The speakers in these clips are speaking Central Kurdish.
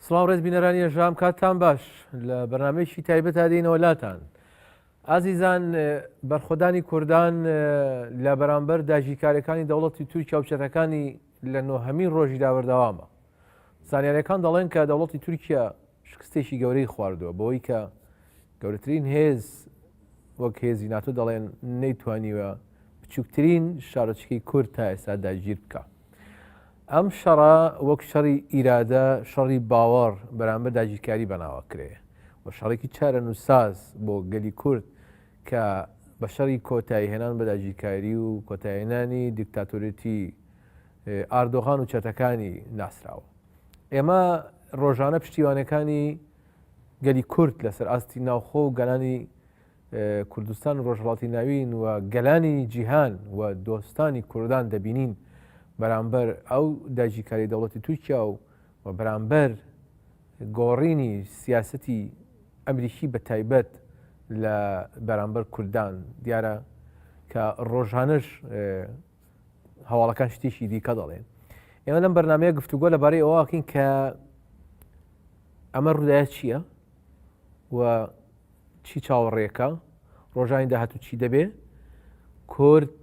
سڵاو ڕێز بینەرانی ژام کاتان باش لە بەنامێکی تایبەت دێنەوە لاتان ئازیزان بەرخۆدانی کوردان لە بەرامبەر داژیکارەکانی دەوڵەتی تورکیا و چەتەکانی لە نۆهەمین ڕۆژیدا بەردەوامە. زانیارییەکان دەڵێن کە دەوڵەتی تورکیا شکستێکی گەورەی خواردووە بەوەی کە گەورەترین هێز وەک هێزی ناتۆ دەڵێن نەیتوانیوە بچووکترین شارۆچکەی کورد تا ئێستا داگیر بکە. ئەم شەڕە وەک شەڕی ئیرادە شەڕی باوەڕ بەرامبەر داگیرکاری بەناوە کرێ و شەڕێکی چارە نووساز بۆ گەلی کورد کە بە شەڕی کۆتاییهێنان بە داگیرکاری و کۆتاییهێنانی دیکتاتۆریەتی ئاردۆغان و چەتەکانی ناسراوە. ئێمە ڕۆژانە پشتیوانەکانی گەلی کورد لەسەر ئاستی ناوخۆ و گەلانی کوردستان و ڕۆژهڵاتی ناوین و گەلانی جیهان و دۆستانی کوردان دەبینین بەرامبەر ئەو داگیرکاری دەوڵەتی تورکیا و و بەرامبەر گۆڕینی سیاسەتی ئەمریکی بە تایبەت لە بەرامبەر کوردان دیارە کە ڕۆژانش هەواڵەکان شتێکی دیکە دەڵێن ئێمە لەم بەرنمەیە گفتوگۆ لەبارەی ئەوواکەین کە ئەمە ڕودایە چییە و چی چاوەڕێکە ڕۆژانی داهاتوو چی دەبێ کورد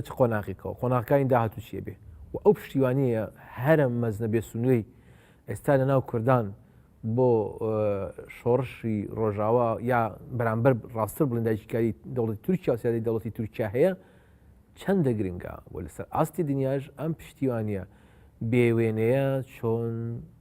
چ قۆناغێکەوە قۆناغەکانی داهاتوو چیە بێ و ئەو پشتیوانیە هەرە مەزنە بێ سنوێی ئێستا لە ناو کوردان بۆ شۆڕشی ڕۆژاوا یا بەرامبەر ڕاستتر بڵین داگیرکاری دەوڵەتی تورکیا و سیادی دەوڵەتی تورکیا هەیە چەندە گرنگە بۆ لەسەر ئاستی دنیاش ئەم پشتیوانە بێوێنەیە چۆن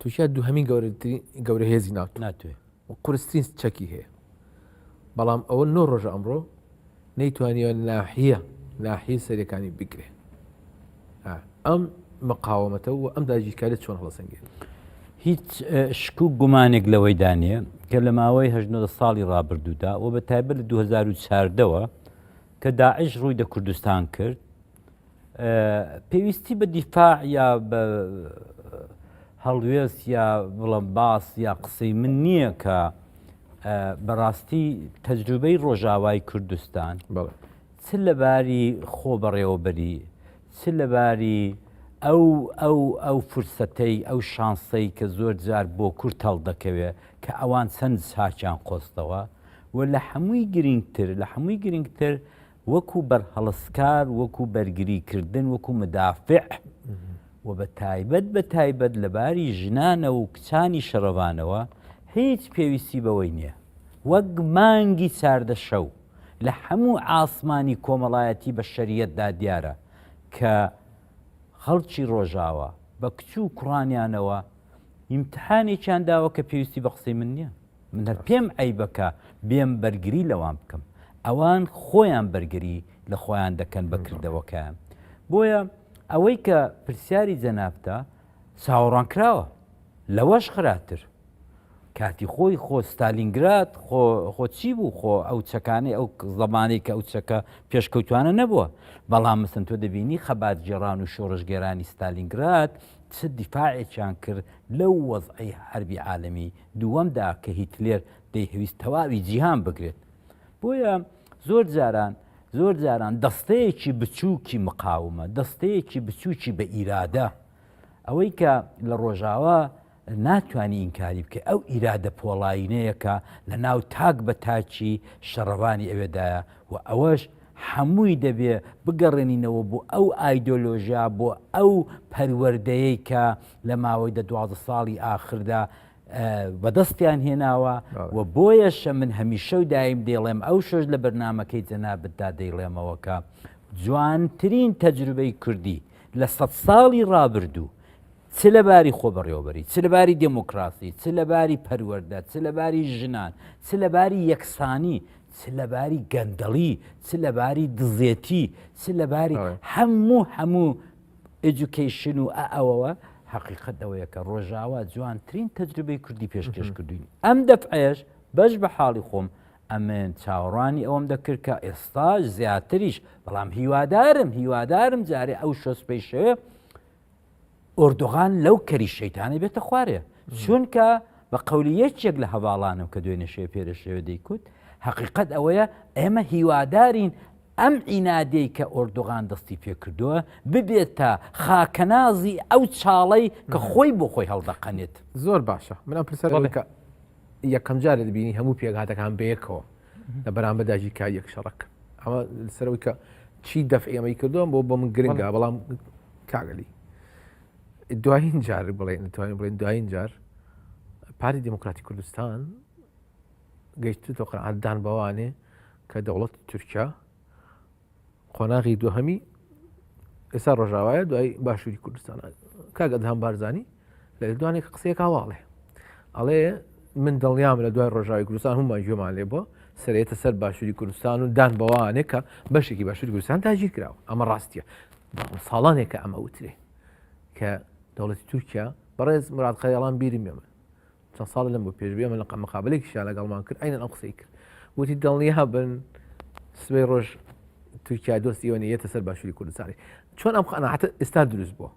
تورکیا دوهمین گەورە هێزی ناوت ناتوێ قرسترین چەکی هەیە بەڵام ئەوە نۆ ڕۆژ ئەمڕۆ نەیتوانیوە ناحە ناحی سەرەکانی بگرێ ئەم مقاومەتە و ئەم داگیرکاری چۆن هەڵسەنگێن هیچ شک و گومانێک لەوەی دانێ کە لە ماوەی هەژنە ساڵی ڕابردوودا و بە تایبەت لە 2014ەوە کە داعش ڕووی دە کوردستان کرد پێویستی بە دیفاع یا بە هەڵوێست یا بڵم باس یا قسەی من نییە کە بەڕاستی تەجروبەی ڕۆژاوای کوردستان چ لەباری خۆ بەڕێوەبەری چ لەباری ئەو ئەو ئەو فرسەتەی ئەو شانسەی کە زۆر جار بۆ کورت هەڵ دەکەوێ کە ئەوان چەند ساچیان قۆستەوە و لە هەمووی گرنگتر لە هەمووی گرنگتر وەکو بەرهەڵستکار، وەکو بەرگریکردن، وەکو مدافع و بە تایبەت بە تایبەت لە باری ژنانەوە و کچانی شەڕڤانەوە هیچ پێویستی بەوەی نییە وەک مانگی چاردە شەو لە هەموو ئاسمانی کۆمەڵایەتی بە شەریەتدا دیارە کە خەڵکی ڕۆژاوا بە کچ و کوڕانیانەوە ئیمتحانێکیان داوە کە پێویستی بە قسەی من نییە. من پێم عەیبە کە بێم بەرگری لەوان بکەم، ئەوان خۆیان بەرگری لە خۆیان دەکەن بە کردەوەکەیان. بۆیە ئەوەی کە پرسیاری جەنابتە چاوەڕوانکراوە، لەوەش خراتر. کاتی خۆی خۆ ستالینگراد خۆ خۆ چی بوو؟ خۆ ئەو چەکانەی ئەو زەمانەی کە ئەو چەکە پێشکەوتوانە نەبووە. بەڵام مەسەن تۆ دەبینی خەباتگێڕان و شۆڕشگێرانی ستالینگراد چ دیفاعێکیان کرد لەو وەزعەی حەربی عالەمی دووەمدا کە هیتلێر دەیهەویست تەواوی جیهان بگرێت. بۆیە زۆر جاران زۆر جاران دەستەیەکی بچووکی مقاومە، دەستەیەکی بچووکی بە ئیرادە، ئەوەی کە لە ڕۆژاوا ناتوانی ئینکاری بکەی، ئەو ئیرادە پۆڵایینەیە کە لە ناو تاک بە تاکی شەڕڤانی ئەوێدایە و ئەوەش هەمووی دەبێ بگەڕێنینەوە بۆ ئەو ئایدۆلۆژیا، بۆ ئەو پەروەردەیەی کە لە ماوەی دە دوازدە ساڵی ئاخردا بەدەستیان هێناوە و بۆیەشە من هەمیشە و دایم دەیڵێم ئەو شەش لە بەرنمەکەی جەنابتدا دەیڵێمەوەکە جوانترین تەجروبەی کوردی لە سەد ساڵی ڕابردوو چ لە باری خۆبەڕێوەبەری چ لە باری دموکراسی چ لە باری پەروەەردە چ لە باری ژنان چ لە باری یەکسانی چ لە باری گەندەڵی چ لە باری دزێتی چ لە باری هەموو هەموو ئەجوکیشن و ئەوەوە حقیقت ئەوەیە کە ڕۆژاوا جوانترین تەجربەی کوردی پێشکەش کردوین ئەم دەفعێش بەش بە حاڵی خۆم ئەمن چاوەڕوانی ئەوم دەکرد کە ئێستاش زیاتریش بەڵام هیوادارم هیوادارم جارێ ئەو شۆسپەی شەوێ ئۆردوغان لەو کەری شەیتانە بێتە خوارێ چونکە بە قولی یەکێک لە هەواڵانم کە دوێنێ شێ پێرە شێوە دەیکوت حقیقت ئەوەیە ئێمە هیوادارین ئەم ئینادەی کە ئۆردوغان دەستی پێکردووە ببێتە خاکەنازی ئەو چاڵی کە خۆی بۆ خۆی هەڵدەقەنێت زۆر باشە من ئەم پرسەر بکە یەکەم جارە دەبینی هەموو پێکهاتەکان بەیەکەوە لە بەرامبەر داژی کا یەک شەڕک ئەمە سەرەوەی کە چی دەف ئێمەی کردووە بۆ بۆ من گرنگە بەڵام کاگەلی دوایین جار بڵێن توانین بڵێن دوایین جار پاری دموکراتی کوردستان گەیشتێتەوە قەعددان بەوانێ کە دەوڵەت تورکیا قۆناغی دوهەمی ئێستا ڕۆژاوایە دوای باشووری کوردستان کاگەدهام بارزانانی لە لێدوانێک قسەیەکا واڵێ ئەڵێ من دڵنیام لە دوای ڕۆژاوی کوردستان هەمومان گوێمان لێ بووە سرێتە سەر باشووری کوردستان و دان بەوانێک کە بەشێکی باشووری کوردستان تاگیر کراوە ئەمە ڕاستیە ساڵانێکە ئەمە وترێ کە دەوڵەتی تورکیا بەڕێز مراد قەیاڵان بیرم ئێمە چەند ساڵ لەم بۆ پێشبێ من لە قەمەقابلێکی شا لەگەڵمان کرد ئەین ئەم قسەی کرد وتی دڵنی هەبن سبەی ڕۆژ تورکیا دۆستی ئەوە یەتە سەر باشووری کوردستانی چۆن ئەم قەنەعاتە ئێستا دروست بووە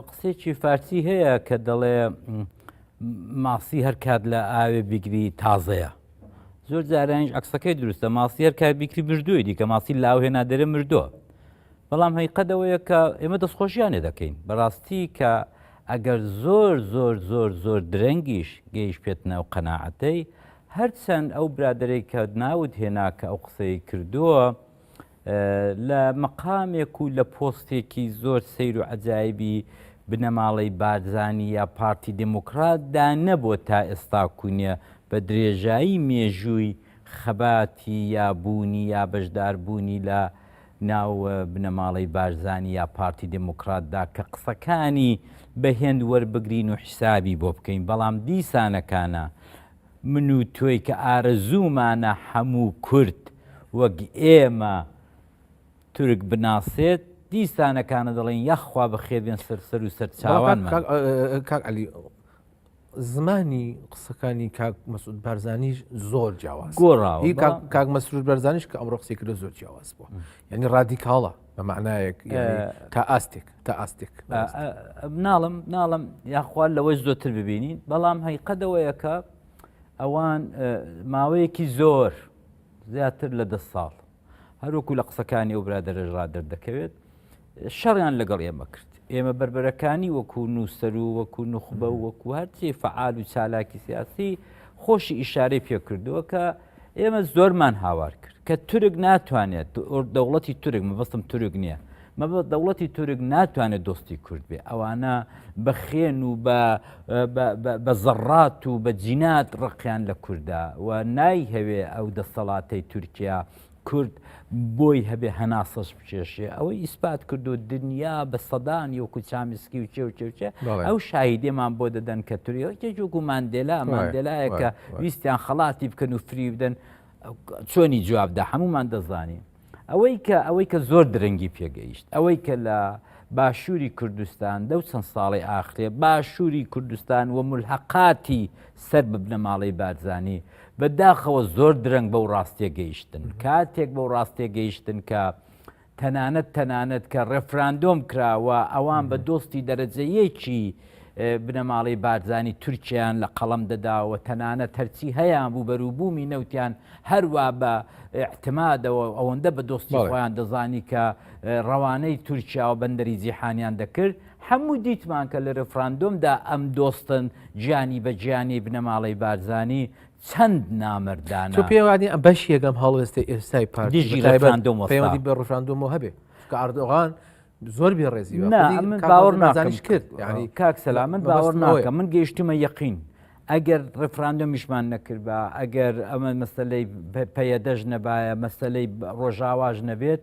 قسێکی فارسی هەیە کە دەڵێ ماسی هەر کات لە ئاوێ بیگری تازەیە زۆر جارانیش عکسەکەی دروستە ماسی هەر کار بیکری مردووی دیکە ماسی لاو هێنا دەرە مردووە بەڵام هەیقەدەوەیە کە ئێمە دەستخۆشیانێ دەکەین بەڕاستی کە ئەگەر زۆر زۆر زۆر زۆر درەنگیش گەیش پێت ناو قەنەعەتەی هەرچەند ئەو برادێک کە ناوت هێنا کە ئەو قسەی کردووە لە مەقامێک و لە پۆستێکی زۆر سیر و عجایبی بنەماڵەی بارزانانی یا پارتی دموکراتدا نەبووە تا ئێستا کونیە بە درێژایی مێژووی خەباتی یا بوونی یا بەشداربوونی لە ناو بنەماڵەی بارزانانی یا پارتی دموکراتدا کە قسەکانی بە هێند وەربگرین و حیسابی بۆ بکەین بەڵام دیسانەکانە من و تۆی کە ئارەزوومانە هەموو کورد وەک ئێمە تورک بناسێت، دیسانەکانە دەڵێن یاخوا بەخێربێن سەر سەر و سەر چاوان کاک علی زمانی قسەکانی کاک مەسود بارزانانیش زۆر جیاواز گۆڕاوی کاک مەسرور بەرزانانیش کە ئەمڕۆ قسەی کرد زۆر جیاواز بوو یعنی ڕادیکاڵە بە معنایەک تا ئاستێک تا ئاستێک ناڵم ناڵم یاخوال لەوەی زۆتر ببینین بەڵام هەیقەدەوەیەکە ئەوان ماوەیەکی زۆر زیاتر لە دە ساڵ هەروکو لە قسەکانی ئەو برادەرەژ را دەردەکەوێت شەڕیان لەگەڵ ئێمە کرد ئێمە بربەرەکانی وەکو نووسەر و وەکو نخبە و وەکو هەرچی فعال و چالاکی سیاسی خۆشی ئیشارەی پێکردووە کە ئێمە زۆرمان هاوار کرد کە تورک ناتوانێت دەوڵەتی تورک مەبەستم تورک نییە مەبە دەوڵەتی تورک ناتوانێت دۆستی کورد بێ ئەوانە بە خێن و بە زەڕات و بە جینات ڕقیان لە کووردا و نایهەوێ ئەو دەسەڵاتەی تورکیا کورد بۆی هەبێ هەناسەش بکێشێ ئەوەی ئیسپات کردو دنیا بە سەدان یۆکو چامسکی و چێ و چێوچێ ئەو شاهیدێمان بۆ دەدەن کە تریۆکێک وەکو ماندێلا ماندێلایەکە ویستیان خەڵاتی بکەن و فری بدەن چۆنی جوابدا هەمومان دەزانین ئەوەی کە ئەوەی کە زۆر درەنگی پێگەیشت ئەوەی کە لە باشووری کوردستان دەو چەند ساڵی ئاخرێ باشووری کوردستان و ملحقاتی سەر ببنە ماڵی بارزانانی بە داخەوە زۆر درەنگ بەو ڕاستیە گەیشتن، کاتێک بەو ڕاستیە گەیشتن کە تەنانەت تەنانەت کە ڕێفراندۆم کرا و ئەوان بە دۆستی دەرەجە یەکی بنەماڵەی بارزانی تورکیایان لە قەڵەم دەداوە تەنانە تەرچی هەیان بوو بەروبوومی نەوتیان هەروە بە احتمادەوە ئەوەندە بە دۆستی خۆیان دەزانی کە ڕەوانەی تورکیا و بەندەری جیحانیان دەکرد هەموو دیتمان کە لە ریفراندۆمدا ئەم دۆستن گیانی بە گیانی بنەماڵەی بارزانی چەند نامەردانە تۆ پێوانی ئەم بەش یەکەم هەڵوێستی ئێستای پارتی دژی بە تایبەت ریفراندۆم وەستا. پەیوەندی بە ڕفراندۆمەوە هەبێ کە ئاردۆغان زۆر بێ ڕێزی وە. نا خودی من کاک باوەڕ بارزانیش ناکەم کرد کرد یعنی کاک سەلام من باوەڕ مەبەستم ئەوەیە. ناکەم من گەیشتمە یەقین ئەگەر ڕفراندۆمیشمان نەکردبا ئەگەر ئەمە مەسلەی پ- پەیەدەش نەبایە مەسلەی ب- ڕۆژاواش نەبێت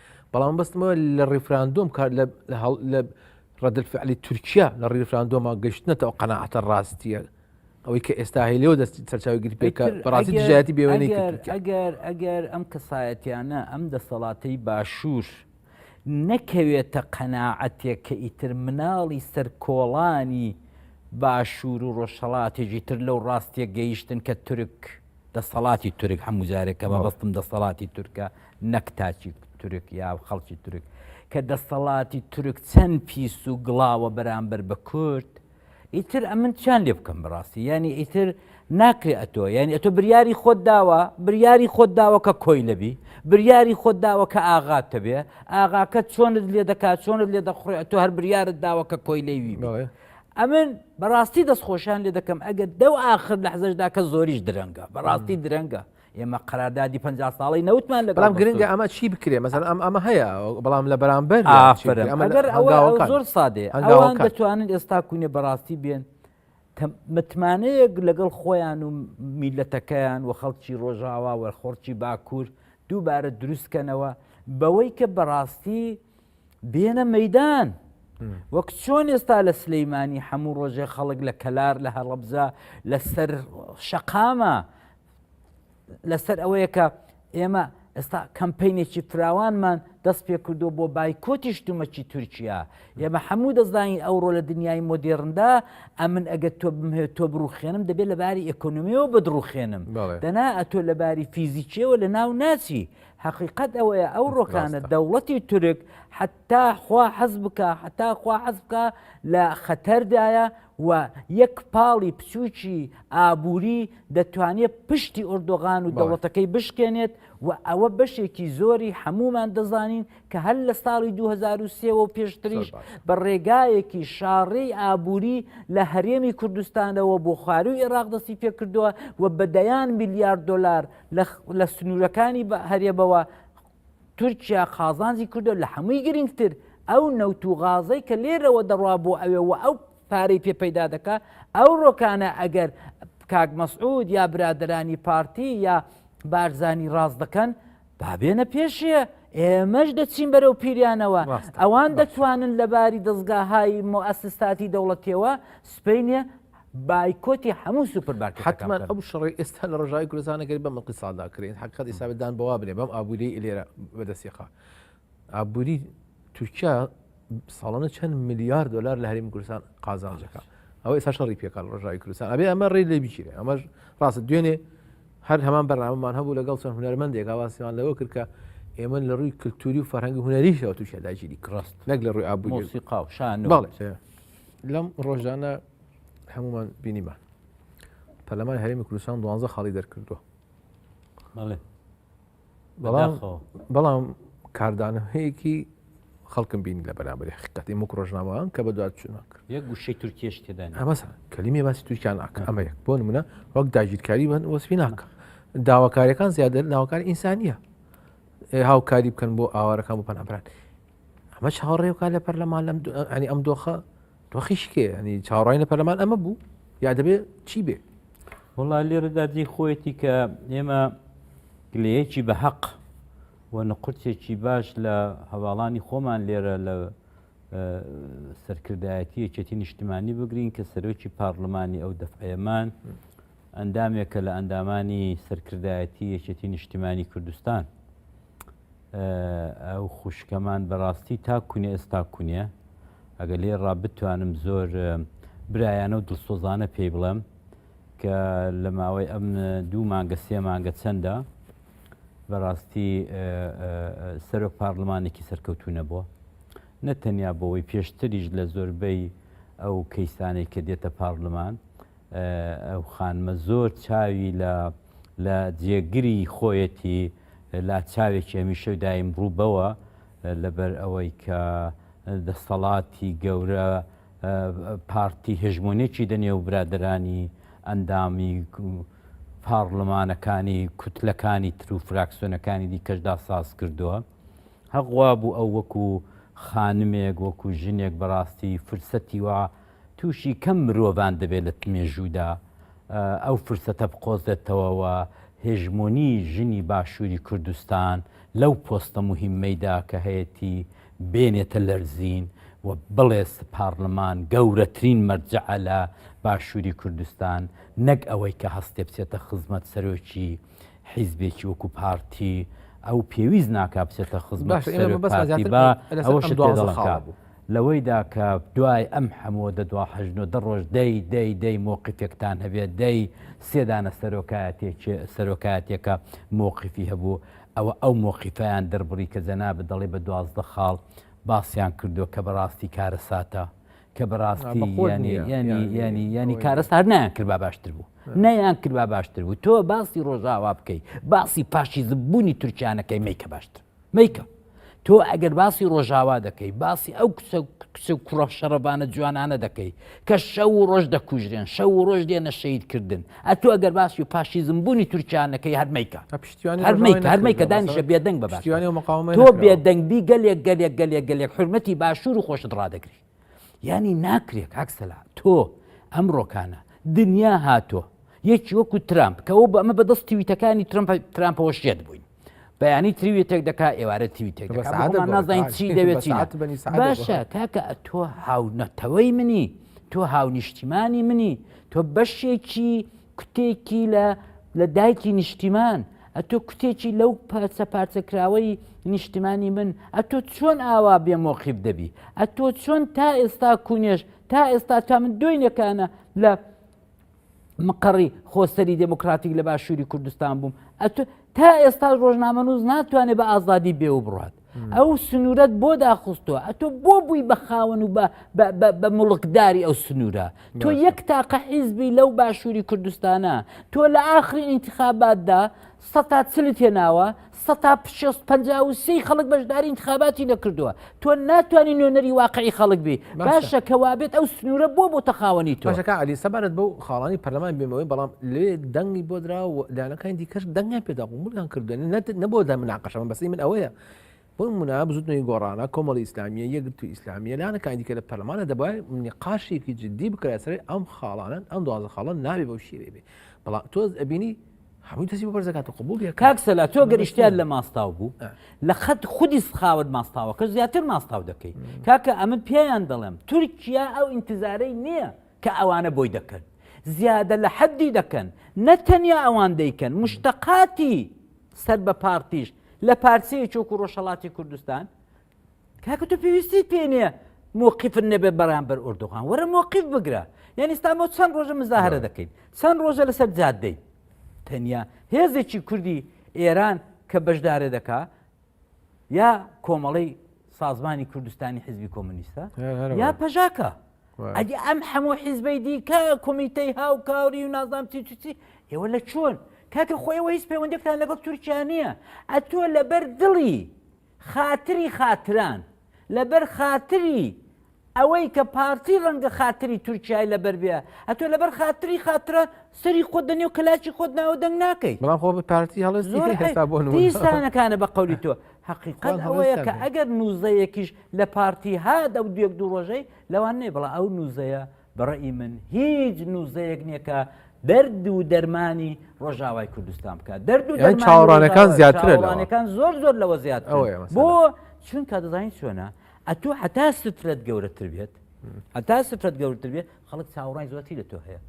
بەڵام بەستمەوە لە ڕیفراندۆم کار لە ڕدلفعلی تورکیا لە ڕیفراندۆما گەشتنەتەوە قەنەعاتە ڕاستیە ئەوەی کە ئێستا هەیە لەوە دەستی سەرچاوی گری پێکە بەڕاستی دژایەتی بێوێنی ئەگەر ئەگەر ئەم کەسایەتیانە ئەم دەسەڵاتەی باشوور نەکەوێتە قەنەعەتێک کە ئیتر مناڵی سەر کۆڵانی باشوور و ڕۆژهڵاتێکی تر لەو ڕاستیە گەیشتن کە تورک دەسەڵاتی تورک هەموو جارێکە بە بەستم دەسەڵاتی تورکە نەک تاکی تورک یا خەڵکی تورک کە دەستەڵاتی تورک چەند پیس و گڵاوە بەرامبەر بە کورد ئیتر ئەمن چیان لێ بکەم بەڕاستی یعنی ئیتر ناکرێ ئەتۆ یعنی ئەتۆ بریاری خۆت داوە بریاری خۆت داوە کە کۆی لەبی بریاری خۆت داوە کە ئاغات تەبێ ئاغاکە چۆنت لێ دەکات چۆنت لێ دەخڕێ ئەتۆ هەر بریارت داوە کە کۆی لەوی ئەمن بەڕاستی دەستخۆشان لێ دەکەم ئەگەر دەو آخر لە حزشدا کە زۆریش درەنگە بەڕاستی درەنگە ئێمە قراردادی پ ساڵی نەوتمان لە بەڵام گرنگە ئەمە چی بکرێ مەزان ئەم ئەمە هەیە بەڵام لە بەرامبەر ئەمەگەر ئەوە زۆر سادێ ئەوان دەتوانن ئێستا کوونێ بەڕاستی بێن متمانەیەک لەگەڵ خۆیان و میلەتەکەیان و خەڵکی ڕۆژاوا وەرخۆڕکی باکوور دووبارە دروستکەنەوە بەوەی کە بەڕاستی بێنە مەدان وەک چۆن ئێستا لە سلەیمانی هەموو ڕۆژێ خەڵک لە کەلار لە هەڵەبزە لەسەر شەقامە لەسەر ئەوەیە کە ئێمە ئێستا کەمپینێکی فراوانمان دەست پێ کردو بۆ بایکۆتی شتومەکی تورکیا ئێمە هەموو دەزانین ئەوڕۆ لە دنیای مۆدێڕندا ئەمن ئەگەر تۆ بمهێ تۆ بڕوخێنم دەبێت لە باری ئەکۆنمیەوە بەدڕوخێنم دەنا ئەتۆ لە باری فیزیکیەوە لە ناو ناچی حقیقت ئەوەیە ئەو ڕۆکانە دەوڵەتی تورک حتا خوا حەز بکە حتا خوا حەز بکە لە خەتەردایە و یەک پاڵی بچووکی ئابووری دەتوانێت پشتی ئۆردۆغان و دەوڵەتەکەی بشکێنێت و ئەوە بەشێکی زۆری هەمومان دەزانین کە هەر لە ساڵی 2023 و پێشتریش بە ڕێگایەکی شاڕێی ئابووری لە هەرێمی کوردستانەوە بۆ خواروی عێراق دەستی پێکردووە و بەدەیان میلیارد دلار لە سنوورەکانی هەرێمەوە تورکیا قازانجی کردوە لە هەمووی گرنگتر ئەو نەوت و غازەی کە لێرەوە دەڕوا بۆ ئەوێ و ئەو پارەی پێ پەیدا دەکا ئەو ڕۆکانە ئەگەر کاک مەسعود یا برادرانی پارتی یا بارزانی ڕاست دەکەن بابێنە پێشێ ئێمەش دەچین بەرەو پیریانەوە ئەوان دەتوانن لەباری دەستگاهای مۆئسستاتی دەوڵەتەوە سپینە بایکۆتی هەموو سوپر باکە حتمما ئەو شڕی ئێستا لە ڕژاوی کوردستانەکەی بەم قیسادا کرێن حقت ئیسابدان بەوا بێ بەم ئابووری لێرە بەدەسیقا ئابووری تورکیا ساڵانە چەند میلیارد دلار لە هەریم کوردستان قازانجەکە ئەو ئێستا شەڕی پێکان ڕژاوی کوردستان ئەبێ ئەمە ڕێ لێ بچیرێ ئەمەش ڕاست دوێنێ هەر هەمان بەرنامەمان هەبوو لەگەڵ چەند هونەرمەندێک ئاواسیان لەوە کرد کە ئێمە لە ڕووی کللتوری و فەرهەنگی هونەریشەوە تووشە داگیری کڕست نەک لە ڕووی ئابووری قاو شان باڵێ لەم ڕۆژانە هەمومان بینیمان پەرلەمانی هەرێمی کوردستان دوانزە خاڵی دەرکردووە بەڵام کاردانەیەکی خەڵکم بین لە بەرامبەر حقیقەتی مک ڕۆژنامەوان کە بە دوات چوون ناکرد یە گوشەی تورکیش تێدا ئەمە کەلیمی باسی تورکیان ناکە ئەمە یەک بۆ منە وەک داگیرکاری بن وەسپی ناکە داواکاریەکان زیادە داواکاری ئینسانیە هاوکاری بکەن بۆ ئاوارەکان بۆ پەنابران ئەمە چاوەڕێوکە لە پەرلەمان لەم ئەنی ئەم دۆخە دۆخی شکێ ینی چاڕای لە پەرلەمان ئەمە بوو یا دەبێت چی بێ وڵا لێرەدا جێ خۆیەتی کە ئێمە گلەیەکی بە حەق و نقرتێکی باش لە هەواڵانی خۆمان لێرە لە سەرکردایەتی یەکێتی نیشتمانی بگرین کە سەرۆکی پارلمانی ئەو دەفعەمان ئەندامێکە لە ئەندامانی سەرکردایەتی یەکێتی نیشتمانی کوردستان ئەو خوشکەمان بەڕاستی تا کونێ ئێستا کونێ ئەگە لێ ڕا بتوانم زۆر برایانە و دڵسۆزانە پێی بڵێم کە لە ماوەی ئەم دوو مانگە سێ مانگە چەندە بەڕاستی سەرۆک پارلمانێکی سەرکەوتو نەبووە نە تەنیا بۆەوەی پێشتریش لە زۆربەی ئەو کەیسانەی کە دێتە پارلمان ئەو خانمە زۆر چاوی لە لە جێگری خۆیەتی لا چاوێکی هەمیشە و دایم ڕوو بەوە لەبەر ئەوەی کە دەسەڵاتی گەورە پارتی هژمونێکی دەنێ و برادرانی ئەندامی پاڕلمانەکانی کوتلەکانی تر و فراکسۆنەکانی دیکەشدا ساز کردووە هەقوا بوو ئەو وەکو خانمێک وەکو ژنێک بەڕاستی فرسەتی وا تووشی کەم مرۆڤان دەبێت لە مێژوودا ئەو فرسەتە بقۆزێتەوە و هێژمۆنی ژنی باشووری کوردستان لەو پۆستە مهمەیدا کە هەیەتی بێنێتە لەرزین و بڵێ پارلمان گەورەترین مەرجعە لە باشووری کوردستان نەک ئەوەی کە هەستێ بچێتە خزمەت سەرۆکی حیزبێکی وەکو پارتی ئەو پێویست ناکا بچێتە خزمەت سەرۆک پارتی با ئەوە شت بوو لەوەیدا کە دوای ئەم حەمووە دە دوا حەژن و دە ڕۆژ دەی دەی دەی مۆقیفێکتان هەبێت دەی سێ دانە سەرۆکایەتێک سەرۆکایەتێکە مۆقیفی هەبوو ئەوە ئەو مۆقیفیان دەربڕی کە جەنابت دەڵێ بە دوازدە خاڵ باسیان کردو کە بەڕاستی کارەساتە کە بەڕاستی یانی یانی یانی یانی کارەست هەر نایان کرد با باشتر بوو نەیان کرد با باشتر بوو تۆ باسی ڕۆژاوا بکەیت باسی پاشیزبوونی تورکیانەکەی میکە باشتر میکە تۆ ئەگەر باسی ڕۆژاوا دەکەی باسی ئەو کچ و کوڕە شەڕەبانە جوانانە دەکەی کە شەو و ڕۆژ دەکوژرێن شەو و ڕۆژ دێنە شەیدکردن ئەتو ئەگەر باسی و پاشیزم بوونی تورکیانەکەی هەرمیکە هەرمیکە دانیشە بێدەنگ بە تۆ بێدەنگبی گەلێک گەلێک گەلێک گەلێک حرمەتی باشوور و خۆشت ڕدەگری یانی ناکرێ کاک سەلا تۆ ئەم ڕۆکانە دنیا هاتۆ یەکی وەکو ترامپ کەەوە بە ئەمە بەدەست تویتەکانی ترمپ ترامپەوە شێت بووین بەیانی تریوی تێک دەکا ئێوارە تیوی تێک نازانین چی دەوێت باشە کاکە تۆ هاونەتەوەی منی تۆ هاونیشتیمانی منی تۆ بەشێکی کوتێکی لە لە دایکی نیشتیمان، ئەتۆ کوتێکی لەو پارچە پارچە کراوەی نیشتیمانی من، ئەتۆ چۆن ئاوا بێ مۆقیف دەبی؟ ئەتۆ چۆن تا ئێستا کونێش، تا ئێستا تا من دۆینەکانە لە مقەڕی خۆسەری دێموکراتیک لە باشووری کوردستان بووم، ئەتۆ تا ئێستا ڕۆژنامەنووس ناتوانێ بە ئازادی بێ و بڕوات. ئەو سنوورەت بۆ داخستووە ئەتۆ بۆ بووی بە خاوەن و بە مڵکداری ئەو سنوورە تۆ یەک تاقە حیزبی لەو باشووری کوردستانە تۆ لە ئاخری ئینتخاباتدا سە تا چلی تێناوە سە تا پشست پ سی خەڵک بەشداری انتخاباتی نەکردووە تۆ ناتوانانی نوێنەری واقعی خەڵک بی باشە کەوابێت ئەو سنوورە بۆ بۆ تەخاوەنی تۆشەکە علی سەبارەت بۆ خاڵانی پەرلەمان بێمەوەی بەڵام لێ دەنگی بۆ درا و لایەنەکانی دیکەش دەنگیان پێدا قبولیان کردوێن نەبوو دە مناقەشەمە بەسی من ئەوەیە بۆ منە بزوتنەوەی گۆڕانە کۆمەڵی ئیسلامیە یەکگرتو ئیسلامیە لایەنەکانی دیکە لە پەرلەمانە دەبای نقاشێکی جددی بکرێت سەر ئەم خاڵانن ئەم دوازە خاڵە نابێ بەو شێوێ بێ بەڵام تۆز ئەبینی هەموو دەسی بۆ بەرزەکات و قبول کاکسەلا تۆ گەریشتیان لە ماستاو بوو لە خەت خودی سخاوت ماستاوەکە زیاتر ماستاو دەکەیت کاکە ئەمن پێیان دەڵێم تورکیا ئەو ئینتزارەی نییە کە ئەوانە بۆی دەکەن زیادە لە حەدی دەکەن نە تەنیا ئەوان دەیکەن مشتەقاتی سەر بە پارتیش لە پارسەیە چۆک و ڕۆژهڵاتی کوردستان کاکە تۆ پێویستی پێ نیە موقیفن نەبێ بەرامبەر ئۆردوغان وەرە موقیف بگرە یعنی ئستامۆ چەند ڕۆژە مزاهرە دەکەین چەند ڕۆژە لەسەر جادەی تەنیا هێزێکی کوردی ئێران کە بەشدارە دەکا یا کۆمەڵی سازمانی کوردستانی حیزبی کۆمونیستە یا پەژاکە ئەدی ئەم هەموو حیزبەی دیکە کمیتەی هاو کاوری و نازام تیچی ئێوە لە چۆن کاکە خۆیەوە هیچ پەیوەندێکتان لەگەڵ تورکیا نییە ئەتۆ لەبەر دڵی خاتری خاتران لەبەر خاتری ئەوەی کە پارتی ڕەنگە خاتری تورکای لەبەر بێ ئەتۆ لەبەر خاتری خاترە سەری خۆت دەنێ و کەلاچی خۆت ناوە دەنگ ناکەی بەڵام خۆ پارتی هەڵستانەکانە بە قولی تۆ حقیقەت ئەوەیە کە ئەگەر نووزەیەکیش لە پارتی هاات ئەو دوێک دوو ڕۆژەی لەوان نێ بڵە ئەو نووزەیە بە ڕەئی من هیچ نوزەیەک نییە کە دەرد و دەرمانی ڕۆژاوای کوردستان بکات دەرد و چاوەڕانەکان زیاترەکان زۆر زۆر لەوە زیات بۆ چونکە دەزانین چۆنە ئەتو حتا سترەت گەورەتر بێت هەتا سترەت گەورتر بێت خەڵک چاوەڕای زۆتی لە تۆ هەیە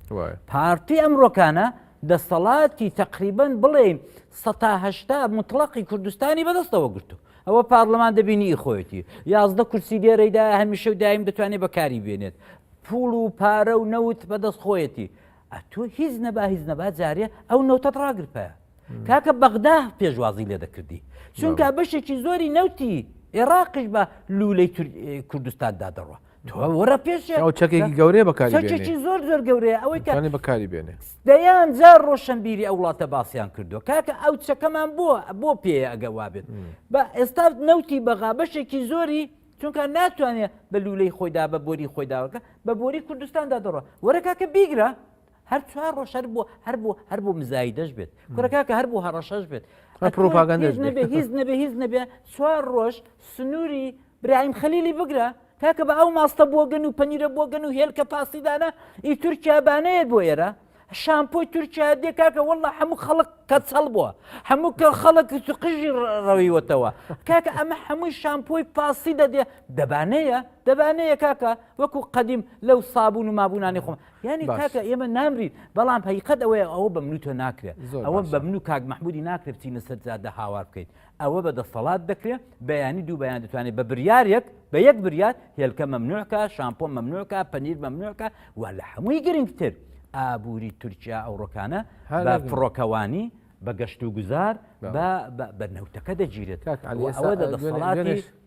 پارتی ئەمڕۆکانە دەسەڵاتی تقریبن بڵێ سەهشتا مطلقی کوردستانی بەدەستەوە گرتو ئەوە پارلەمان دەبینی ئی خۆیەتی یازدە کورسی لێرەیدا هەمیشە و دایم دەتوانێت بەکاری بێنێت پوڵ و پارە و نەوت بەدەست خۆیەتی ئەتۆ هیچ نەبا هیچ نەبا جارێ ئەو نەوتەت ڕاگرپە کاکە بەغدا پێشوازی لێ دەکردی چونکە بەشێکی زۆری نەوتی عێراقش بە لوولەی کوردستاندا دەڕوە وەرە پێشێ ئەو چەکێکی گەورەیە بەکارێکی زۆر زۆر گەورەیە ئەوەی کانی بەکاری بێنێ دەیان جار ڕۆشنبیری ئەو وڵاتە باسییان کردو کاکە ئەو چەکەمان بۆ بۆ پێ ئەگە وابێت بە ئێستا نەوتی بەغا بەشێکی زۆری چونکە ناتوانێت بە لولەی خۆیدا بە بۆری خۆیداوەکە بە بۆری کوردستاندا دەڕە وەرە کاکە بیگرە هەر چوار ڕۆژ هەر بۆ هەر بۆ هەر بۆ مزایدەش بێت کورەکەکە هەر بۆ هەڕەشەش بێت پرۆپاگەندەش نەبێ هیچ نەبێ هیچ نەبێ چوار ڕۆژ سنووری برایم خەلیلی بگرە تاکە بە ئەو ماستە بۆگەن و پەنیرە بۆگەن و هێلکە پاسیدانە ئی تورکیا بانەیەت بۆ ئێرە شامپۆی تورکیا دێ کاکە وەڵە هەموو خەڵک کە چەڵ بووە هەموو کە خەڵک قژی ڕەویوەتەوە کاکە ئەمە هەمووی شامپۆی پاسی دەدێ دەبانەیە دەبانەیە کاکە وەکو قەدیم لەو سابوون و مابوونانی خۆم یعنی کاکە ئێمە نامرین بەڵام هەیقەت ئەوەیە ئەوە بە منوتۆ ناکرێت ئەوە بە من و کاک مححمودی ناکرێت چینە سەر زیادە هاوار بکەیت ئەوە بە دەسەڵات دەکرێت بەیانی دوو بەیان دەتوانێت بە بریارێک بە یەک بریات هێلکە مەمنوعکە شامپۆ مەمنوعکە پەنیر مەمنوعکە و لە هەمووی گرنگتر ئابووری تورکیا ئەوڕۆکانە هەر فڕۆکەوانی بە گەشت و گوزار بە نەوتەکە دەگیرێت ئەوە دەسەڵاتی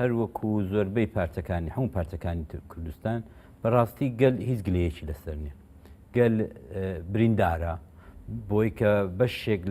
هەروەکو زۆربەی پارتەکانی هەموو پارتەکانی تر کوردستان بەڕاستی گەل هیچ گلەیەکی لەسەر نیە گەل بریندارە بۆی کە بەشێک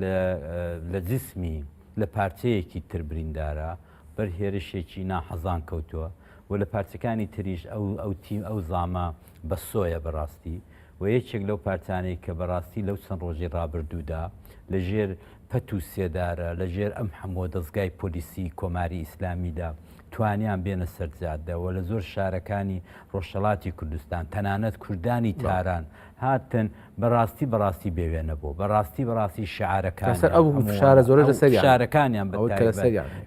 لە جسمی لە پارچەیەکی تر بریندارە بەر هێرشێکی ناحەزان کەوتووە و لە پارچەکانی تریش ئەو ئەو تیم ئەو زامە بە سۆیە بەڕاستی و یەکێک لەو پارتانەی کە بەڕاستی لەو چەند ڕۆژی ڕابردوودا لە ژێر پەت و سێدارە، لە ژێر ئەم حەمووە دەزگای پۆلیسی کۆماری ئیسلامیدا توانیان بێنە سەر جادە و لە زۆر شارەکانی ڕۆژهەڵاتی کوردستان تەنانەت کوردانی تاران هاتن بەڕاستی بەڕاستی بێوێنە بۆ بەڕاستی بەڕاستی شعارەکان شارە زۆر لە سەر شارەکانیان بە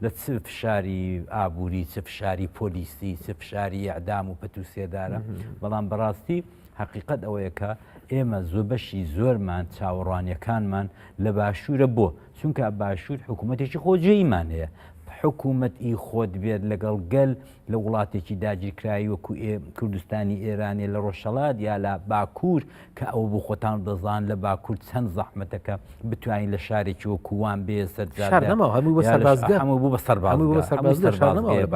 لە چ فشاری ئابووری چ فشاری پۆلیسی چ فشاری ئەعدام و پەت و سێدارە بەڵام بەڕاستی هەقیقەت ئەوەیە کە ئێمە زۆر بەشی زۆرمان چاوەڕوانیەکانمان لە باشوورە بۆ چونکە باشوور حکوومەتێکی خۆجێیمان هەیە حکوومەت ئی خۆت بێت لەگەڵ گەل لە وڵاتێکی داگیرکراوی وەکو ئێ کوردستانی ئێرانێ لە ڕۆژهڵات یا لە باکوور کە ئەو بۆ خۆتان دەزان لە باکوور چەند زەحمەتەکە بتوانین لە شارێکی وەکووان بێ سەرجار هەموو بۆ بە سەرباز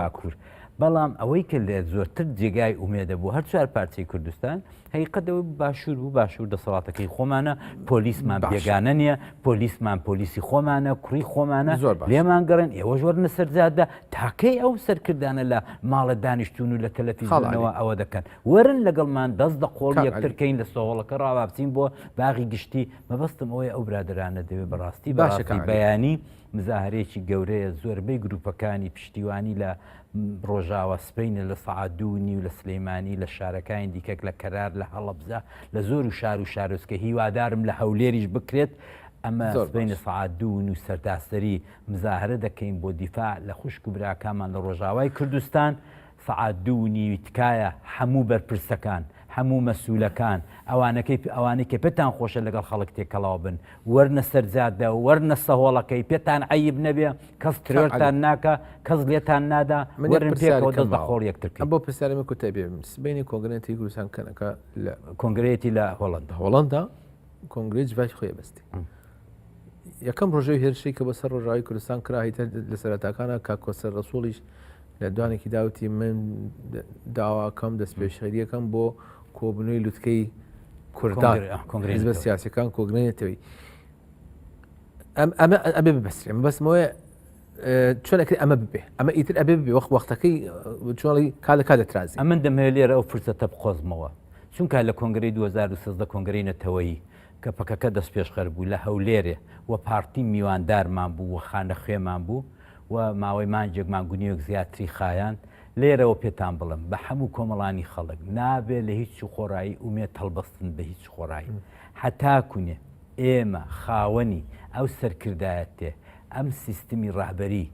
باکوور بەڵام ئەوەی کە لە زۆرتر جێگای ئومێدە بۆ هەر چوار پارچەی کوردستان هەیقەت ئەوەی بوو باشوور بوو باشوور دەسەڵاتەکەی خۆمانە پۆلیسمان باش. بێگانە نییە پۆلیسمان پۆلیسی خۆمانە کوڕی خۆمانە زۆر باش. لێمان گەڕێن ئێوە ژۆر نەسەرجادە تاکەی ئەو سەرکردانە لە ماڵە دانیشتون و لە کەلەفی خاڵ عەلی. زۆنەوە ئەوە دەکەن وەرن لەگەڵمان دەست دە قۆڵ کاک یەکتر عەلی. کەین لە سۆوەڵەکە ڕاوابچین بۆ باغی گشتی مەبەستم ئەوەیە ئەو برادەرانە دەبێ بەڕاستی باشە بەڕاستی کاک عەلی. بەیانی مزاهرەیەکی گەورەیە زۆربەی گروپەکانی پشتیوانی لە ڕۆژاوە سپینە لە سەعات دوو نیو لە سلەیمانی لە شارەکانی دیکەک لە کەرار لە هەڵەبزە لە زۆر و شار و شارۆچکە هیوادارم لە هەولێریش بکرێت ئەمە بینە سعات دوون و سەرتاسەری مزاهرە دەکەین بۆ دیفاع لە خوشک و براکانمان لە ڕۆژاوای کوردستان سەعات دوو و نیوی تکایە حەموو بەرپرسەکان حەموو مەسولەکان ئەوانەکەی ئەوانەی کە پێتان خۆشە لەگەڵ خەڵک تێکەڵاو بن وەرنە سەر جادە وەرنە سەهۆڵەکەی پێتان عەیب نەبێ کەس ترۆرتان ناکا کەس لێتان نادا وەرن پێکەوە دەست بە خۆڵ یەکتر کەین. بۆ پرسیارێ من کوتای پێ بێم سبەینێ کۆنگرەیەتی گورستان کەنەکە لە کۆنگرەیەتی لە هۆڵەندا هۆڵەندا کۆنگرەی جڤاکی خۆی ئەبەستی. یەکەم ڕۆژەی هێرشی کە بەسەر ڕۆژاوی کوردستان کراهیتە لە سەرەتاکانە کاکۆسەر ڕسوڵیش لە دوانێکی داوتی من داواکەم دەست پێشخەریەکەم بۆ کۆبنەوەی لوتکەی کوردان کۆنگرێز بە سیاسەکان کۆگرێنێتەوەی ئەمە ئەبێ بەسرێن بەسمەوەی چۆنەکە ئەمە ببێ ئەمە ئیتر ئەبێ بێ وەخت وەختەکەی چۆڵی کا لە کا دەترازی ئەمن دەمەوێت لێرە ئەو فرسەتە بقۆزمەوە چونکە لە کۆنگری 2013 کۆنگری نەتەوەیی کە پەکەکە دەستپێشخەر بوو لە هەولێرێ و پارتی میواندارمان بوو و خانەخوێمان بوو و ماوەی مانگێک مانگ و نیوێک زیاتری خایاند، لێرەوە پێتان بڵێم بە هەموو کۆمەڵانی خەڵک، نابێ لە هیچ و خۆڕایی ئومێد هەڵبستن بە هیچ خۆڕایی هەتاکوونێ ئێمە خاوەنی ئەو سەرکردایەتێ ئەم سیستمی ڕابەری،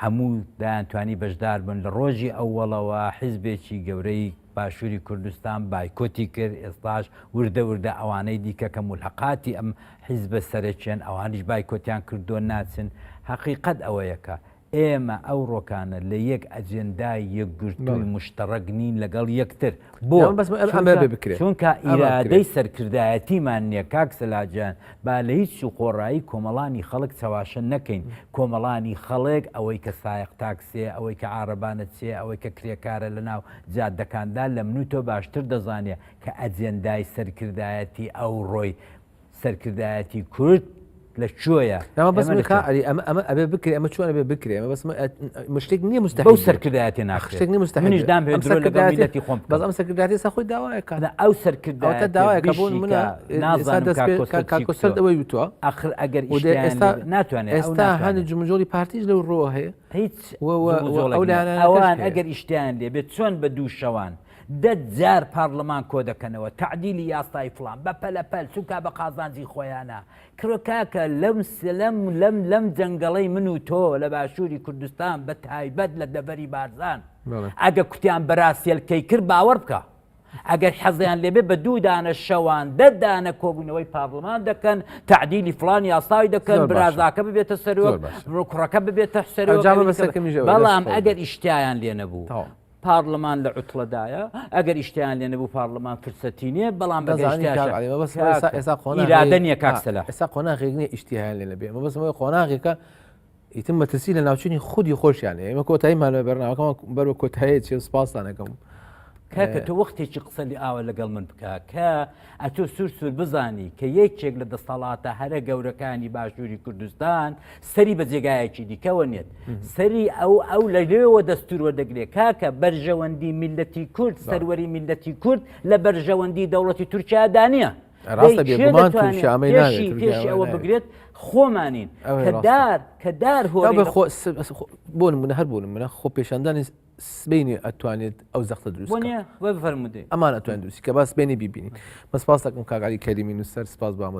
هەموو دەیانتوانی بەشدار بن، لە ڕۆژی ئەوەڵەوە حیزبێکی گەورەی باشووری کوردستان بایکۆتی کرد، ئێستاش وردە وردە ئەوانەی دیکە کە مولحەقاتی ئەم حیزبە سەرەکیەن ئەوانیش بایکۆتیان کردووە ناچن، هەقیقەت ئەوەیە کە ئێمە ئەوڕۆکانە لە یەک ئەجێندای یەکگرتووی مشتەڕەک نین لەگەڵ یەکتر، بۆ؟ چونکە ئیرادەی سەرکردایەتیمان نیە کاک سەلاح گیان، با لە هیچ سو خۆڕایی کۆمەڵانی خەڵک چەواشە نەکەین، کۆمەڵانی خەڵک، ئەوەی کە سایەق تاکسێ، ئەوەی کە عارەبانە چێ، ئەوەی کە کرێکارە لە ناو جادەکاندا لە من و تۆ باشتر دەزانێ کە ئەجێندای سەرکردایەتی ئەوڕۆی سەرکردایەتی کورد لە کوێیە. ئەمە بەس ئێمە لە ئەری ئەمە ئەمە ئەبێ بکرێ ئەمە چۆن ئەبێ بکرێ ئەمە بەس مشتێک نییە مستەحیل بەو سەرکردایەتی ناخشتێک ناخشتێک نیە مستەحیل منیش دام هێ ئەم درۆ لەگەڵ سەرکردایەتی میلەتی خۆم بکەم. بەس ئەم سەرکردایەتی سا خۆی داوایە کە ئەنا ئەو سەرکردایەتە ئەوەتە داوایە کە بۆ منە بشیکە نازانکۆسەر ئەوەی وتوە ئەخر ئەگەر ئێستا ناتوانێت ئێستا هەنی جمجۆری پارتیش لەو ڕۆ هەیە هیچ ئەوان ئەگەر ئیشتیان لێ بێت چۆن بە دوو شەوان دە جار پارلمان کۆ دەکەنەوە تعدیلی یاسای فلان بە پەلەپەل چونکا بە قازانجی خۆیانە کرۆ کاکە لەم سلم لەم لەم جەنگەڵەی من و تۆ لە باشووری کوردستان بە تایبەت لە دەبەری بارزان ئەگە کوتیان بەراسیلکەی کرد باوەڕ بکە ئەگەر حەزیان لێبێ بە دوو دانە شەوان دە دانە کۆبوونەوەی پارلمان دەکەن تعدیلی فلان یاساوی دەکەن برازاکە ببێتە سەرۆک کوڕەکە ببێتە سەرۆک بەڵام ئەگەر ئیشتیان لێ نەبوو. پارلمان لە عوتڵەدایە ئەگەر ئیشتیان لێ نەبوو پارلمان فرسەتی نیە بەڵام بەئێستا قۆناغ ئێستا قۆناغێک نیە ئیشتیان لێ نەبێ بەسمەوەی قۆناغێکە ئیتر مەترسی لە ناوچنی خودی خۆشیان ئێمە کۆتایی مالوێ بەرناوەکەم بەرەوە کۆتایە چێ سپاسانەکەم کاکە تۆ وەختێکی قسە لە ئاوە لەگەڵ من بکە کە ئەتۆ سوور سوور بزانی کە یەکێک لە دەستەڵاتە هەرە گەورەکانی باشووری کوردستان سەری بە جێگایەکی دیکەوە نێت سەری ئەو ئەو لە لێوە دەستورەوە دەگرێت کاکە بەرژەوەندی میلەتی کورد سەروەری میلەتی کورد لە بەرژەوەندی دەوڵەتی تورکیا دانە ڕاستە بێگومان شامەی ناوێت پێشی ئەوە بگرێت خۆمانین کەدار کەدار هۆ بۆ منە هەر بوون منە خۆ پێشاندانی سبینی ئەتوانێت ئەو زەختە دروست فەرمودێ ئەمان ئەتوان دروستی کە باس بێنی ببینین بەسپاس دەکەم کاگاری کەریمی نووسەر سپاس بامە